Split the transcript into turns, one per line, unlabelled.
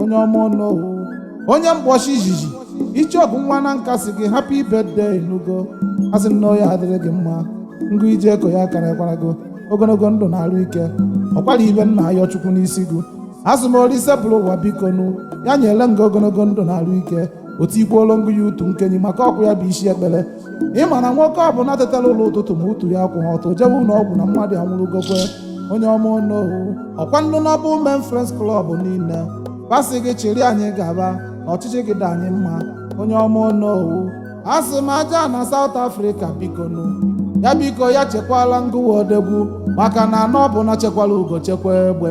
onye ọma onowu onye mgbọchi izizi icheoku nwa nanka sị gị happy birthday nugo asị m na ọ ya-adịrị gị mma ngụ ije eko ya karịkwara gị ogologo ndụ na arụ ike ọkwara ibe m na-ayọ chukwu n'isi gị asị m olise buru ụwa biko nụ ya nyere ngụ ogologo ndụ na arụ ike o tikwuolo ngụ ya utu nkenyi maka ọkụ ya bụ isi ekpere ịma na nwoke ọ bụla tetara ụla ụtụtụ ma utu ya akwụghị ọtọ jewe ụlọ ọgwụ na mmadụ anwụrụgokwe onye ọma onowu ọkwa ndụ noble men friends club niile ba sị gị chịrị anyị gaba na ọchịchị gị dị anyị mma onye ọma onowu a sị m aja ana south africa bikonu ya biko ya chekwala ngụwa odegwu maka na ana ọ bụna chekwala ugo chekwa egbe